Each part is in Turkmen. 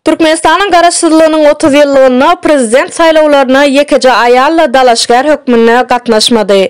Türkmenistanyň Garaşsyzlygynyň otuz ýyllygynda prezident saýlawlaryna ýekeje aýal-da dalaşgär hökmünde gatnaşmady.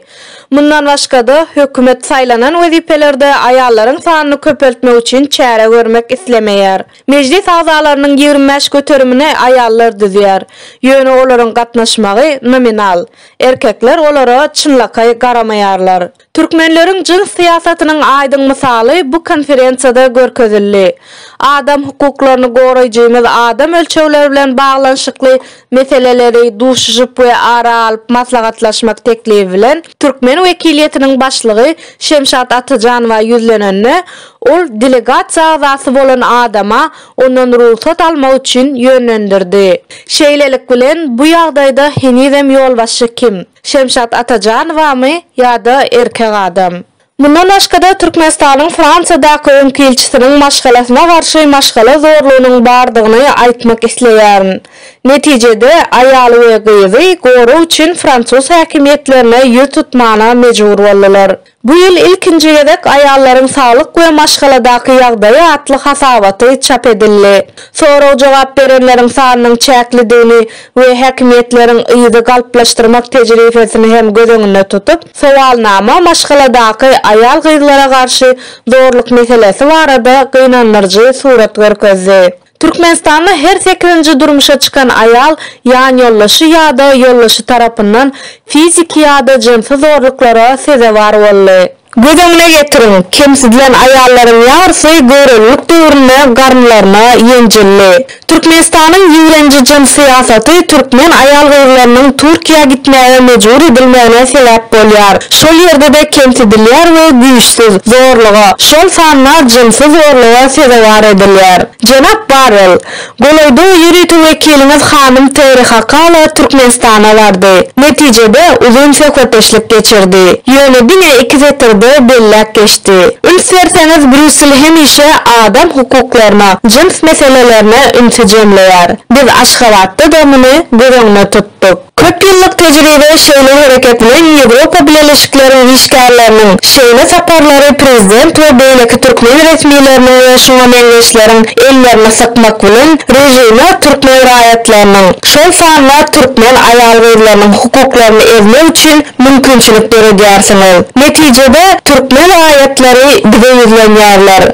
Mundan başga-da, hökümet saýlanan wezipelerde aýallaryň sanyny köpeltmek üçin çäre görmek islemeýär. Mejlis agzalarynyň ýigrimi bäş göterimini aýallar düzýär. Ýöne olaryň gatnaşmagy nominal. Erkekler olara çynlakaý garamaýarlar. Türkmenleriň jyns syýasatynyň aýdyň mysaly bu konferensiýada görkezildi. Adam hukuklaryny goraýjymyz adam ölçegleri bilen baglanyşykly meseleleri duşuşyp we ara alyp maslahatlaşmak teklibi bilen türkmen wekiliýetiniň başlygy Şemşat Atajanowa ýüzlenende, ol delegasiýa agzasy bolan adama ondan rugsat almak üçin ýönlendirdi. Şeýlelik bilen, bu ýagdaýda henizem ýolbaşçy kim? Şemşat Atajanowamy ýa-da erkek adam? Mundan başga-da, Türkmenistanyň Fransiýadaky öňki ilçisiniň maşgalasyna garşy maşgala zorlugynyň bardygyny aýtmak isleýärin. Netijede, aýaly we gyzy gorag üçin fransuz häkimiýetlerine ýüz tutmana mejbur boldular. Bu ýyl ilkinji gezek Aýallaryň saglyk we maşgaladaky ýagdaýy atly hasabaty çap edildi. Sorag-jogap berenleriň sanynyň çäklidigini, we häkimiýetleriň yzy galplaşdyrmak tejribesini hem göz öňünde tutup, sowalnama maşgaladaky aýal-gyzlara garşy zorluk meselesi barada gynandyryjy surat görkezdi. Türkmenistanda her sekizinji durmuşa çykan aýal ýanýoldaşy ýa-da ýoldaşy tarapyndan fiziki ýa-da jynsy zorluklara sezewar boldy. Göz öňüne getiriň, kemsidilen aýallaryň ýarysy göwrelilik döwründe garynlaryna ýenjildi. Türkmenistanyň ýigrenji jyns syýasaty türkmen aýal-gyzlarynyň Türkiýä gitmäge mejbur edilmegine sebäp bolýar. Şol ýerde-de kemsidilýär we güýçsüz, zorluga, şol sanda jynsy zorluga sezewar edilýär. Jenap Barrel, Golaýda ýörite wekiliňiz hanym Terri Hakala Türkmenistana bardy. Netijede, uzyn söhbetdeşlik geçirdi. Ýöne diňe iki setirde belläp geçdi. Üns berseňiz, Brýussel hemişe adam hukuklaryna, jyns meselelerine ünsi jemleýär. Biz Aşgabatda-da muny göz öňüne tutduk. Köp ýyllyk tejribe şeýle hereket bilen Ýewropa Bileleşikleriň işgärleriniň şeýle saparlary prezident we beýleki türkmen resmileriniň we şuňa meňzeşleriň ellerini sykmak bilen režime türkmen raýatlarynyň, şol sanda türkmen aýal-gyzlarynyň hukuklaryny ezmek üçin mümkinçilik döredýärsiňiz. Netijede, türkmen raýatlary bize ýüzlenýärler.